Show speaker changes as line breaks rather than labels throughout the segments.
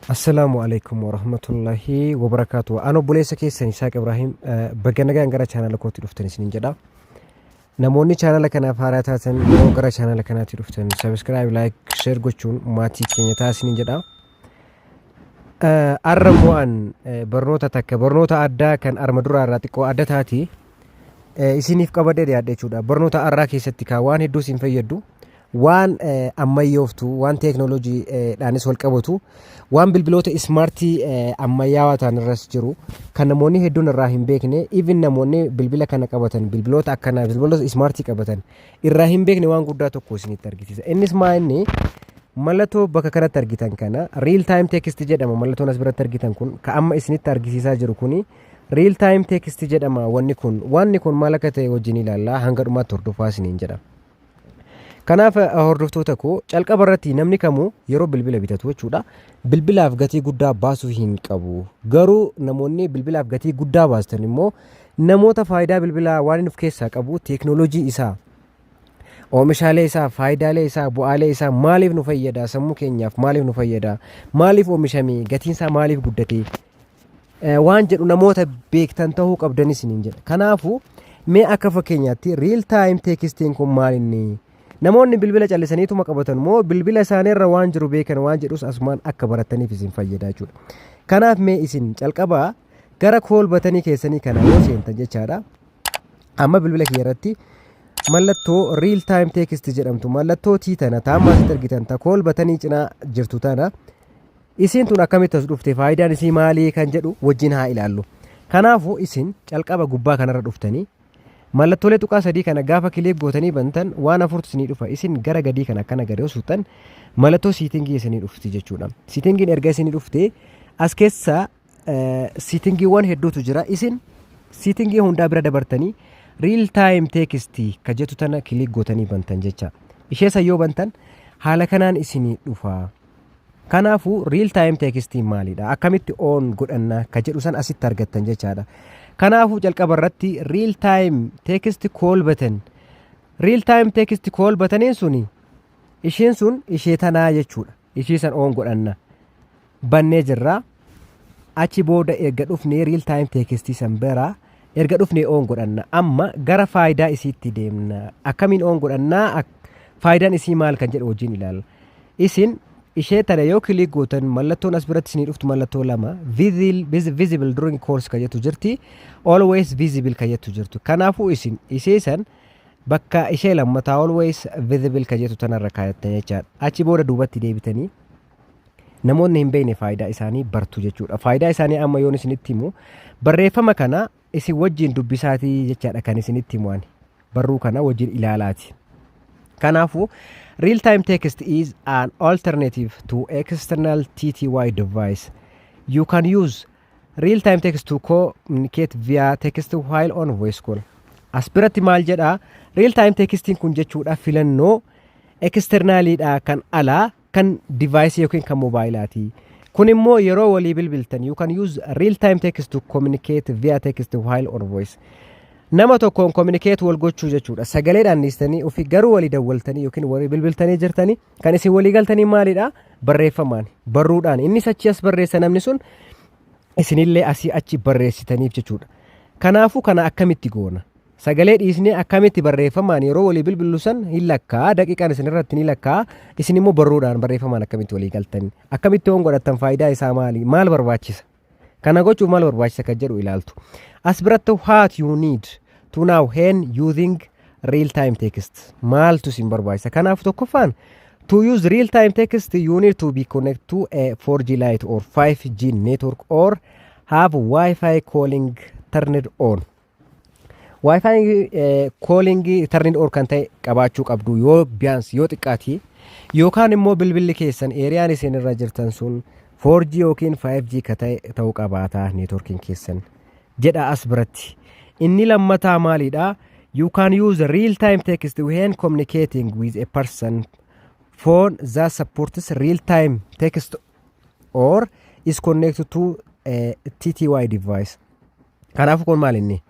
Assalaamu alaikum warahmatullahi wabarakaatu. An obboleessa keessan Isaaq Ibraahim eh, baga nagaan gara chaanala kootti dhuftan isinin jedha. Namoonni chaanala kanaaf haaraa taatan yeroo gara chaanala kanaatti dhuftan subscribe, like, share gochuun maatii keenya ta'a isinin jedha. Eh, Arra immoo an eh, barnoota takka barnoota addaa kan arma duraa irraa xiqqoo adda taati eh, isiniif qabadee dhiyaadhe jechuudha. Barnoota arraa keessatti kaa waan hedduu isin fayyaddu waan ammayyooftu waan teeknooloojiidhaanis wal qabatu waan bilbiloota ismaartii ammayyaawaa ta'an irras jiru kan namoonni hedduun irraa hin beekne even namoonni bilbila kana qabatan bilbiloota akkanaa bilbiloota ismaartii qabatan irraa hin beekne waan guddaa tokko isinitti argisiisa innis maa inni mallattoo bakka kanatti argitan kana real time text jedhama mallattoon as biratti argitan kun ka amma isinitti argisiisaa jiru kuni real time text jedhama wanni kun wanni kun maal akka ta'e wajjin ilaallaa hanga dhumaatti hordofaa isiniin jedhama. Kanaaf hordoftoota koo calqaba irratti namni kamuu yeroo bilbila bitatu jechuudha bilbilaaf gatii guddaa baasuu hin qabu. Garuu namoonni bilbilaaf gatii guddaa baastan immoo namoota faayidaa bilbilaa waan inni of keessaa qabu teeknooloojii isaa oomishaalee isaa faayidaalee isaa bu'aalee isaa maaliif nu fayyada sammuu keenyaaf maaliif nu fayyada maaliif oomishamee gatiin isaa maaliif guddatee waan jedhu namoota beektan ta'uu qabdan isiniin jedha. Kanaafuu mee akka fakkeenyaatti riil taayim teekistiin kun maal inni namoonni bilbila callisaniituma qabatan moo bilbila isaaniirra waan jiru beekan waan jedhus asumaan akka barataniif isin fayyada jechuudha. Kanaaf mee isin calqabaa gara kool batanii keessanii kana yoo seentan jechaadha. Amma bilbila kiyya irratti mallattoo riil taayim teekistii jedhamtu mallattoo tii tana taammaa asitti argitan ta kool batanii cinaa jirtu tana Isiin tun akkamitti as dhufte faayidaan isii maalii kan jedhu wajjin haa ilaallu. Kanaafuu isin calqaba gubbaa kanarra dhuftanii mallattoolee tuqaa sadii kana gaafa kiliik gootanii bantan waan afurtu isinii dhufa isin gara gadii kana akkana gadi yoo suuxxan mallattoo siitingii isinii dhufti jechuudha. Siitingiin erga isinii dhufte as keessaa siitingiiwwan hedduutu jira isin siitingii hundaa bira dabartanii riil taayim teekistii ka jettu tana kiliik gootanii bantan jecha ishee san yoo bantan haala kanaan isinii dhufa kanaafuu riil taayim teekistii maalidha akkamitti oon godhanna ka jedhu san asitti argattan jechaadha kanaafuu jalqaba irratti riil taayim teekistii kool batan riil taayim teekistii kool bataniin suni ishiin sun ishee tanaa jechuudha ishii san oon godhanna bannee jirra. Achi booda erga dhufnee real time teekistii san bira erga dhufnee oon godhanna. Amma gara faayidaa isiitti deemna. Akkamiin oon godhannaa? Ak- Faayidaan isii maal kan jedhu wajjin ilaalla. Isin ishee tana yoo kiliik gootan mallattoon as biratti isinii dhuftu mallattoo lama Visible- vis- visible during course kan jettu jirti always visible kan jettu jirtu kanaafuu isin ishee san bakka ishee lammataa always visible kan jettu tanarra kaayattan jechaadha achi booda duubatti deebitanii Namoonni hin beekne faayidaa isaanii bartu jechuudha. Faayidaa isaanii amma yoon isinitti himu barreeffama kana isin wajjin dubbisaatii jechaadha kan isinitti himu ani. Barruu kana wajjin ilaalaati. Kanaafuu real time text is an alternative to external TTY device. You can use real time text to communicate via text while on voice call. As biratti maal jedhaa real time textiin kun jechuudha filannoo externaliidha kan alaa kan device yookiin kan mobaayilaatii. Kun immoo yeroo walii bilbiltan you can use real time text to communicate via text while or voice. Nama tokkoon communicate wal gochuu jechuudha. Sagaleedhaan dhiistanii ofii garuu walii dawwaltanii yookiin walii bilbiltanii jirtanii kan isin walii galtanii maalidha? Barreeffamaan, barruudhaan. Innis achi as barreessa namni sun isinillee asii achi barreessitaniif jechuudha. Kanaafuu kana akkamitti goona? Sagalee dhiisnee akkamitti barreeffamaan yeroo walii bilbillu san hin lakkaa'a daqiiqaan isin irratti ni lakkaa'a isin immoo barruudhaan barreeffamaan akkamitti walii galtan akkamitti hoon godhattan faayidaa isaa maali maal barbaachisa kana gochuuf maal barbaachisa kan jedhu ilaaltu as biratti what you need to now hen using real time text maaltu isin barbaachisa kanaaf tokkoffaan To use real-time text, you need to be connected to a 4G Lite or 5G network or have Wi-Fi calling turned on. Waayifaayi koolingii tarniin or kan ta'e qabaachuu qabdu yoo biyaansi yoo xiqqaati yookaan immoo bilbilli keessan eeriyaan isin irra jirtan sun 4G yookiin 5G ka ta'e ta'uu qabaata neetworkiin keessan jedha as biratti. Inni lammataa maaliidha? You can use real time text when communicating with a person phone that supports real time text or is connected to uh, TTY device. Kanaafuu kun maal inni?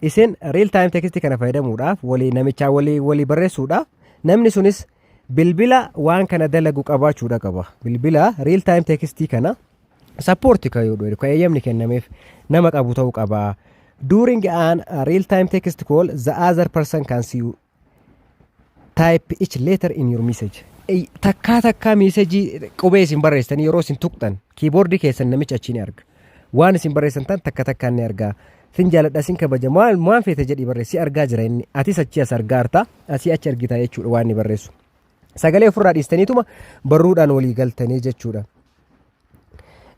Isin real time text kana fayyadamuudhaaf walii namichaa walii walii barreessuudhaaf namni sunis bilbila waan kana dalagu qabaachuudha qaba. Bilbila real time text kana sappoorti kan yoo dhoofne kan eeyyamni kennameef nama qabu ta'uu qaba. During an uh, real time text call the other person can see you Type each letter in your message. Ey, Takkaa takkaa meesajii qubee isin barreessitanii yeroo isin tuqxan kiiboordii keessan namichi achii ni arga. Waan isin barreessan tan takka takkaan ni argaa. Sin jaaladha sin kabaja maal waan feete jedhii barreessi argaa jira inni. Atis achii as argaa artaa asii achi argitaa jechuudha waan inni barreessu. Sagalee ofirraa dhiistaniituma barruudhaan walii galtanii jechuudha.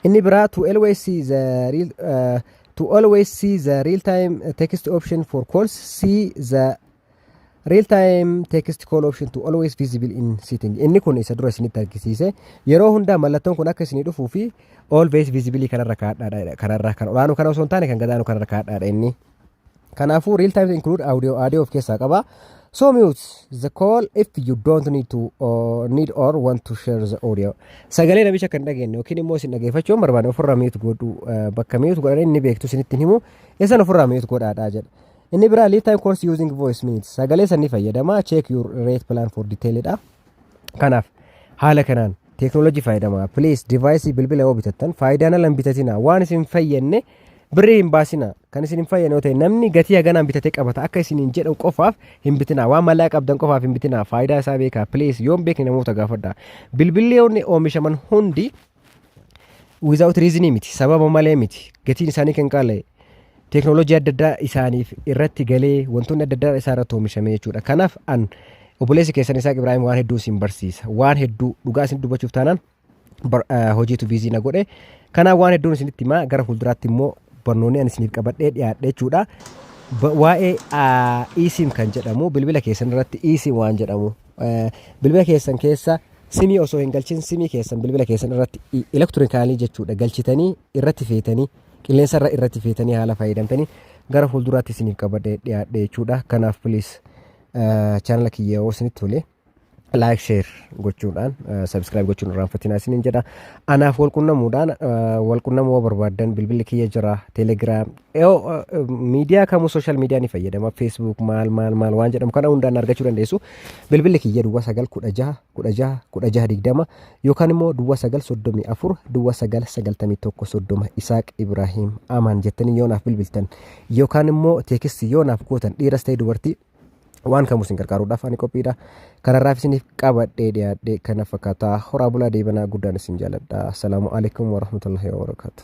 Inni biraa to always see the real uh, to always see the real time text option for calls see the real time text call option to always visible in setting inni kun isa dura isinitti argisiise yeroo hundaa mallattoon kun akka isinii dhufuu fi always visible kanarra kaadhaadha kanarra kan olaanu kana osoo hin taane kan gadaanu kanarra kaadhaadha inni Kanaafuu real time include audio audio of keessaa qaba. So mute the call if you don't need to or need or want to share the audio. Sagalee namicha kan dhageenye yookiin immoo isin dhageeffachuu hin barbaanne ofirraa mute godhu eh, bakka mute godhan inni beektu isinitti hin himu isan ofirraa mute godhaadhaa jedha. Inni biraa lead time course using voice minutes sagalee sanni fayyadama check your rate plan for detail dha. Kanaaf haala kanaan teeknooloojii fayyadamaa please divaayisii bilbila yoo bitattan faayidaan ala hin bitatinaa waan isin hin fayyadne birrii hin baasinaa kan isin hin fayyadne yoo ta'e namni gatii haganaan bitatee qabata akka isin hin jedhan qofaaf hin bitinaa waan mallaa qabdan qofaaf hin bitinaa faayidaa isaa beekaa please yoo hin beekne namoota gaafadhaa bilbilli yoonni oomishaman hundi without reason miti sababa malee miti gatiin isaanii kan qaala'e teeknooloojii adda addaa isaaniif irratti galee wantoonni adda addaa isaa irratti oomishame jechuudha kanaaf an obboleessi keessan isaa Ibraahim waan hedduu isin barsiisa waan hedduu dhugaa isin dubbachuuf taanaan bar- eh, hojiitu biizii na godhe kanaaf waan hedduun isinitti himaa gara fuulduraatti immoo barnoonni an isiniif qabadhee dhiyaadhe jechuudha Ba- waa'ee ah, eSIM kan jedhamu bilbila keessan irratti eSIM waan jedhamu eh, bilbila keessan keessa Simii osoo hin galchin simii keessan bilbila keessan irratti elektirikaalii jechuudha galchitanii irratti feetanii qilleensarra irratti feetanii haala fayyadamtanii gara fuulduraatti isiniif qabadhee dhiyaadhe jechuudha. Kanaaf piliis chaanala kiyya yoo isinitti tole laayik sheer gochuudhaan sabiskiraayib gochuun irraanfatinaa isiniin jedha. Anaaf walqunnamuudhaan walqunnamuu barbaaddan bilbilli kiyya jira teelegiraam Yoo miidiyaa kamuu sooshaal miidiyaa ni fayyadama feesbuuk maal maal maal waan jedhamu kana hundaan argachuu dandeessu bilbilli kiyya duwwaa sagal kudha jaha kudha jaha kudha jaha digdama yookaan immoo duwwaa sagal soddomii afur duwwaa sagal sagaltamii tokko soddoma isaaq ibraahiim amaan jettanii yoo naaf bilbiltan yookaan immoo teekistii yoo naaf gootan dhiiras ta'e dubartii waan kamuu isin gargaaruudhaaf ani qophiidha kanarraaf isiniif qabadhee dhiyaadhee kana fakkaataa horaa bulaa deebanaa guddaan isin jaaladha asalaamu alaikum warahmatullahi wabarakaatu